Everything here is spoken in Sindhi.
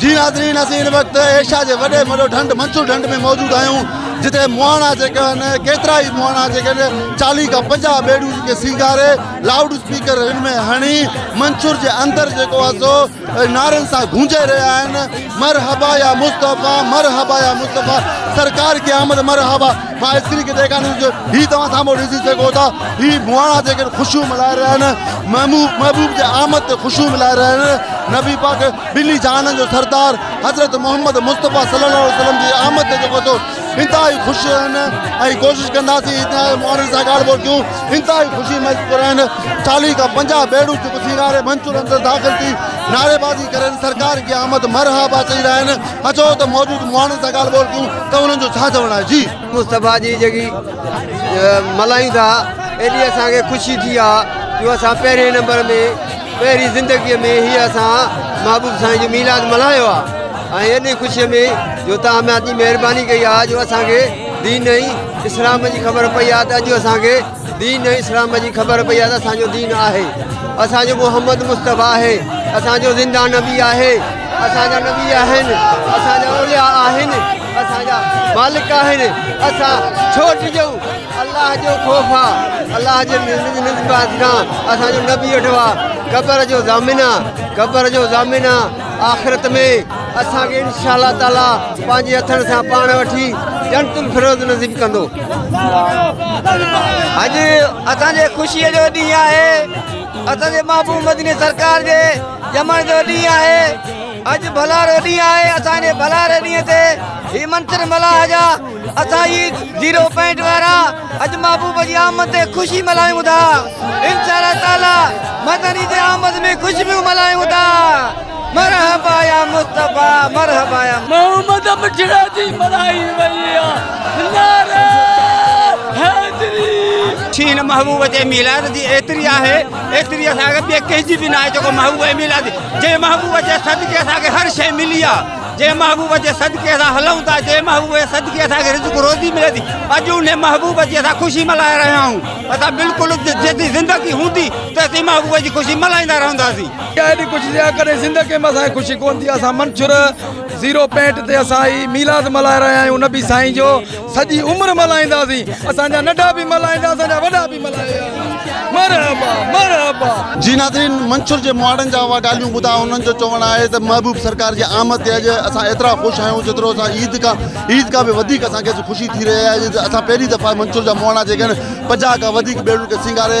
جي ناظرين اسين هن وقت ايشيا جي وڏي ۾ وڏو ڍنڍ منصور ڍنڍ ۾ موجود آهيون جتي مهاڻا جيڪا آهن ڪيترا ئي مهاڻا جيڪا آهن چاليهه کان پنجاهه ٻيڙيون جيڪي سينگاري لائوڊ اسپيڪر هن ۾ هڻي منصور جي اندر جيڪو آهي سو نعرن سان گونجي رهيا آهن مرحبا يا مصطفيٰ مرحبا يا مصطفيٰ سرڪار کي آمد مرحبا مان اسڪرين کي ڏيکاريان ٿو هي توهان سامهون ڏسي سگهو ٿا هي مهاڻا جيڪي خوشيون ملهائي رهيا آهن محبوب محبوب جي آمد تي خوشيون ملهائي رهيا آهن نبي پاڪ ٻنهي جهانن جو سردار حضرت محمد مصطفيٰ صلي الله عليه وسلم جي آمد تي جيڪو اٿو انتهائي خوش آهن ۽ ڪوشش ڪنداسين هتي آيل ماڻهن سان ڳالهه ٻولهه ڪيون انتهائي خوشي محسوس ڪري رهيا آهن چاليهه کان پنجاهه بيڙيون جيڪو سينگاري منچور اندر داخل ٿي نعريبازي ڪري سرڪار جي آمد مرحبا چئي رهيا آهن اچو ته موجود ماڻهن سان ڳالهه ٻولهه ڪيون ته انهن جو ڇا چوڻ آهي جي مصطفيٰ جي جيڪي ملهايون ٿا ايڏي اسان کي خوشي ٿي آهي جو اسان پهرين نمبر ۾ پهرين زندگيء ۾ هيء اسان محبوب سائين جو ميلاد ملهايو آ ۽ ايڏي خوشيء ۾ جو توهان ۾ ايتري مهرباني ڪئي آ جو اسان کي دين ۽ اسلام جي خبر پئي آ ته اڄ اسان کي دين ۽ اسلام جي خبر پئي آ ته اسان جو دين آهي اسان جو محمد مصطفيٰ آهي اسان جو زنده نبي آهي اسان جا نبي آهن اسان جا اولياء آهن اسان جا مالڪ آهن اسان ڇو ڊڄون الله جو خوف آ الله جي نسبت کان اسان جو نبي ويٺو آ قبر جو ضامن آ قبر جو ضامن آ آخرت ۾ اسان کي انشاء الله تعالي پنهنجي هٿن سان پاڻ وٺي جنت الفروز نصيب ڪندو اڄ اسان جي خوشي جو ڏينهن آهي اسان جي محبوب مدني سرڪار جي ڄمڻ جو ڏينهن آهي اڄ ڀلارو ڏينهن آهي اسان جي ڀلاري ڏينهن تي هي منتر ملاح جا اسان ئي زيرو پوائنٽ وارا اڄ محبوب جي آمد تي خوشي ملهايون ٿا انشاء الله تعالي مدني جي آمد ۾ خوشبو ملهايون ٿا مرحبا يا مصطفي مرحبا يا محمد مٺڙا جي ملهائي وئي آهي نعرا حيدري شي هن محبوب جي ميلاد جي ايتري آهي ايتري اسان کي ٻي ڪنهن جي به ناهي جيڪو محبوب جي ميلاد جي محبوب جي صدقي اسان کي هر شيء ملي آهي جنهن محبوب جي صدقي اسان هلون ٿا، جنهن محبوب جي صدقي اسان کي رزق روزي ملي ٿي، اڄ انهي محبوب جي اسان خوشي ملهائي رهيا آهيون، اسان بلڪل جيسين زندگي هوندي تيسين محبوب جي خوشي ملهائيندا رهنداسين. اها ايڏي خوشي جي ڪڏهن زندگي ۾ اسان کي خوشي ڪونه ٿي، اسان منڇر زيرو پينٽ تي اسان هي ميلاد ملهائي رهيا آهيون نبي سائين جو. سڄي عمر ملهائينداسين اسان جا ننڍا به ملهائيندا اسان جا وڏا به ملهائيندا مرحبا مرحبا. جي ناظرين منڇر جي مهاڙن جا اها ڳالهيون ٻڌا انهن جو چوڻ آهي ته محبوب سرڪار جي آمد تي اڄ اسان ايترا خوش آهيون جيترو اسان عيد کان عيد کان به وڌيڪ اسان کي اڄ خوشي ٿي رهي آهي ته اسان پهرين دفعا منڇر جا مهاڙا جيڪي آهن پنجاهه کان وڌيڪ ٻيڙن کي سينگاري